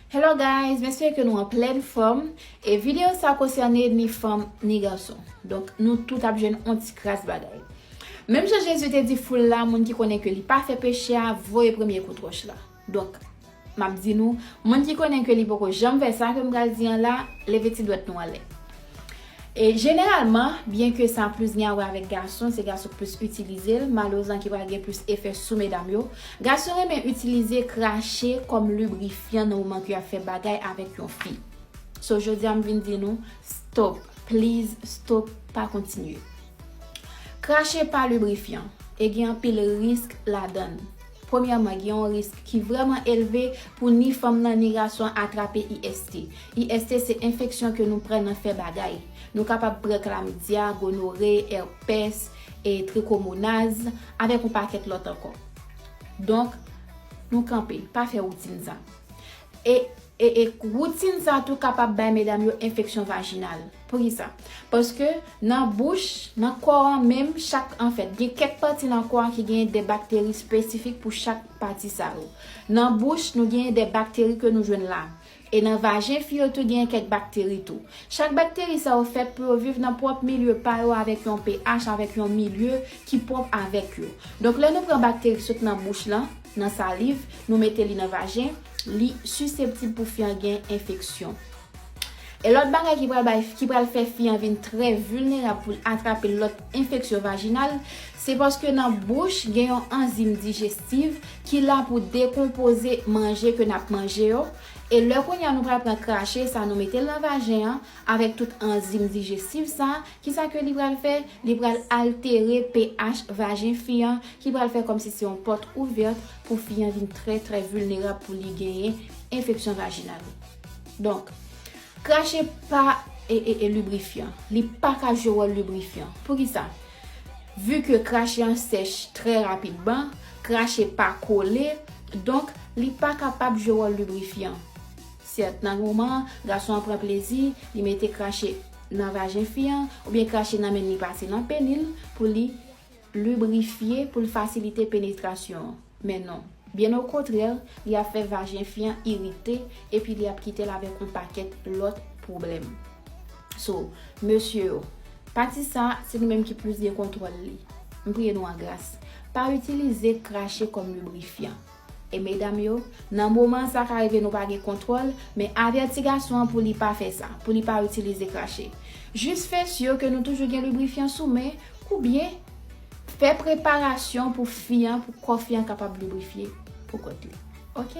Hello guys, m espere ke nou an plèn fòm e videyo sa konsène ni fanm ni gason. Donk nou tout ap jwenn yon ti kras bagay. Menm jan Jezi te di foul la moun ki konnen ke li pa fè peche a voye premye kout wòch la. Donk m ap di nou moun ki konnen ke li poko janm fè sa ke m pral di an la leve ti dwèt nou anlè. E jeneralman, byenke sa plis gen a wè avèk gason, se gason k plis itilize l, malerezan ki pral gen plis efè sou medam yo, gason renmen itilize krache kòm librifyan nan moman ke y ap fè bagay avèk yon fi. So jodi a m vin di nou, stop, please stop, pa kontinye. Krache pa librifyan, e gen anpil risk ladan l. Premyèman, gen yon risk ki vrèman elve pou ni fanm nan ni gason an atrape IST. IST se enfeksyon ke nou pran nan fè bagay. Nou kapab pran klamidya, gonore, èpès, e trikomonaz, avèk yon pakèt lòt ankò. Donk, nou kanpe, pa fè woutin sa. E, e, e woutin sa tou kapab bay medam yo enfeksyon vajinal. Poukisa? Paske nan bouch, nan kò an menm, chak, anfèt, gen kèk pati nan kò a ki genyen de bakteri spesifik pou chak pati sa yo. Nan bouch, nou genyen de bakteri ke nou jwenn la. E nan vajen fi yo tou genyen kèk bakteri tou. Chak bakteri sa yo fèt pou yo viv nan pwòp milye pa yo avèk yon pH, avèk yon milye ki pwòp avèk yo. Donk lè nou pran bakteri ki sot nan bouch lan, Nan saliv, nou mete li nan vajen, li siseptib pou fi an gen enfeksyon. E lòt bagay ki pral bay, ki pral fè fi an vin trè vilnerab pou l atrape lòt enfeksyon vajinal, se paske nan bouch gen yon anzim dijestiv ki la pou dekonpoze manje ke n ap manje yo, e lè kounye a nou pral pran krache sa nou mete l nan vajen an avèk tout anzim dijestiv sa, Kisa ke li pral fè? Li pral altere pH vajen fi an ki pral fè kòmsi se yon pòt ouvèt pou fi an vin trè trè vilnerab pou li genyen enfeksyon vajinal. Donk, krache pa librifyan. Li pa ka jwe wòl librifyan. Poukisa? Vu ke krache an sèch trè rapidman, krache pa kole, donk li pa kapab jwe wòl librifyan. Sèt nan moman an, gason an pran plezi, li mete krache nan vajen fi an oubyen krache nan menn li pase nan peni l pou li librifye pou l fasilite penetrasyon an. Men non. Byen okontrè, li ap fè vajen fi an irite epi li ap kite l avèk on pakèt lòt pwoblèm. So, mesye yo, pati sa a, se nou menm ki plis gen kontwòl li. M priye nou an gras. Pa itilize krache kòm librifyan. E medam yo, nan moman sa ka rive nou pa gen kontwòl, men avèti gason an pou li pa fè sa, pou li pa itilize krache. Jis fè sur ke nou toujou gen librifyan sou men, kou byen fè preparasyon pou fi an, pou kò fi an kapab librifye pou kont li. Ok.